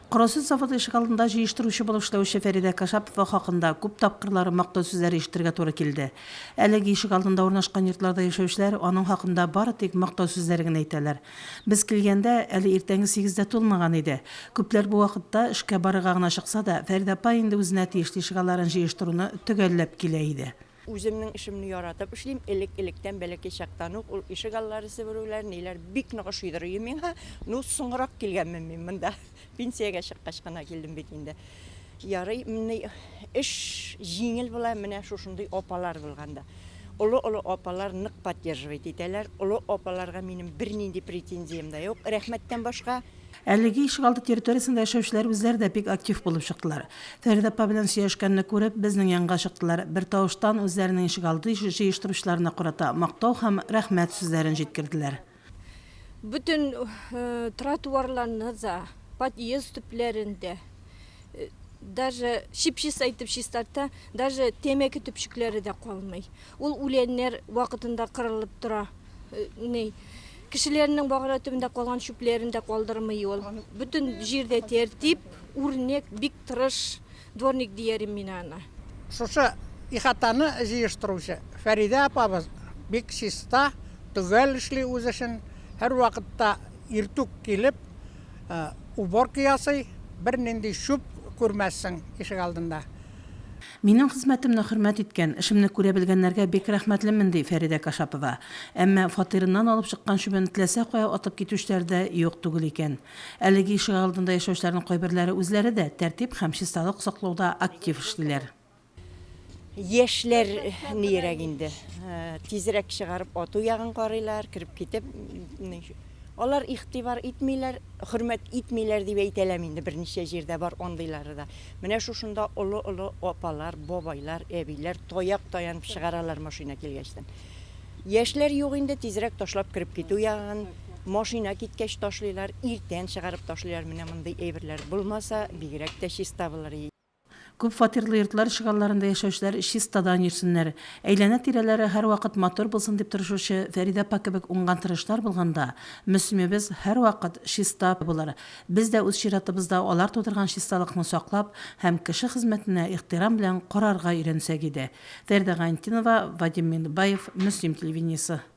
Карасөт заводы ишегалдында җыештыручы булып эшләүче Фәридә Кашапова хакында күп тапкырлар мактау сүзләре ишетергә туры килде. Әлеге ишегалдында урнашкан йортларда яшәүчеләр аның хакында бары тик мактау сүзләре генә әйтәләр. Без килгәндә, әле иртәнге сигез дә тулмаган иде. Күпләр бу вакытта эшкә барырга гына чыкса да, Фәридә апа инде үзенә тиешле ишегалларын җыештыруны төгәлләп килә иде. Үземнең эшемне яратып эшлим, элек-электән, бәләкәй чактан ук ул ишек аллары себерүләр, ниләр бик нык ошыйдыр өем миңа. Ну, соңрак килгәнмен мин монда, пенсиягә чыккач кына килдем бит инде. Ярый, менни эш җиңел була, менә шушындый апалар булганда. Олы-олы апалар нык поддерживать итәләр, олы апаларга минем бернинди претензиям дә юк, рәхмәттән башка. Әлеге ишегалды территориясендә яшәүчеләр үзләре дә бик актив булып чыктылар. Фәридә апа белән сөйләшкәнне күреп, безнең янга чыктылар, бертавыштан үзләренең ишегалды җыештыручыларына карата мактау һәм рәхмәт сүзләрен җиткерделәр. Бөтен тротуарларны да, подъезд төпләрен дә, даже чип-чиста итеп чистарта, даже тәмәке төпчекләре дә калмый. Ул үләннәр вакытында кырылып тора ни. Кешеләрнең багана төбендә калган чүпләрен дә калдырмый ул. Бөтен җирдә тәртип, үрнәк, бик тырыш дворник диярем мин аны. Шушы ихатаны җыештыручы Фәридә апабыз бик чиста, төгәл эшли үз эшен, һәрвакытта иртүк килеп, уборка ясый, бернинди чүп күрмәссең ишегалдында. Минем хезмәтемне хөрмәт иткән, эшемне күрә белгәннәргә бик рәхмәтлемен, ди Фәридә Кашапова. Әмма фатирыннан алып чыккан чүбен теләсә кая атып китүчеләр дә юк түгел икән. Әлеге ишегалдында яшәүчеләрнең кайберләре үзләре дә тәртип һәм чисталык саклауда актив эшлиләр. Яшьләр нирәк инде, тизрәк чыгарып ату ягын карыйлар, кереп китеп. Алар игътибар итмиләр, хөрмәт итмиләр дип әйтәләм инде, берничә җирдә бар андыйлары да. Менә шушында олы-олы апалар, бабайлар, әбиләр таяк таянып чыгаралар машина килгәчтен. Яшьләр юк инде, тизрәк ташлап кереп китү ягын, машина киткәч ташлыйлар, иртән чыгарып ташлыйлар, менә мондый әйберләр булмаса, бигрәк тә чиста булыр иде. Күп фатирлы йортлар ишегалларында яшәүчеләр чистадан йөрсеннәр, әйләнә-тирәләре һәрвакыт матур булсын дип тырышучы Фәридә апа кебек уңган тырышлар булганда, Мөслимебез һәрвакыт чиста булыр. Без дә үз чиратыбызда алар тудырган чисталыкны саклап һәм кеше хезмәтенә ихтирам белән карарга өйрәнсәк иде. Фәридә Гайнтдинова, Вадим Миндбаев, Мөслим телевидениесе.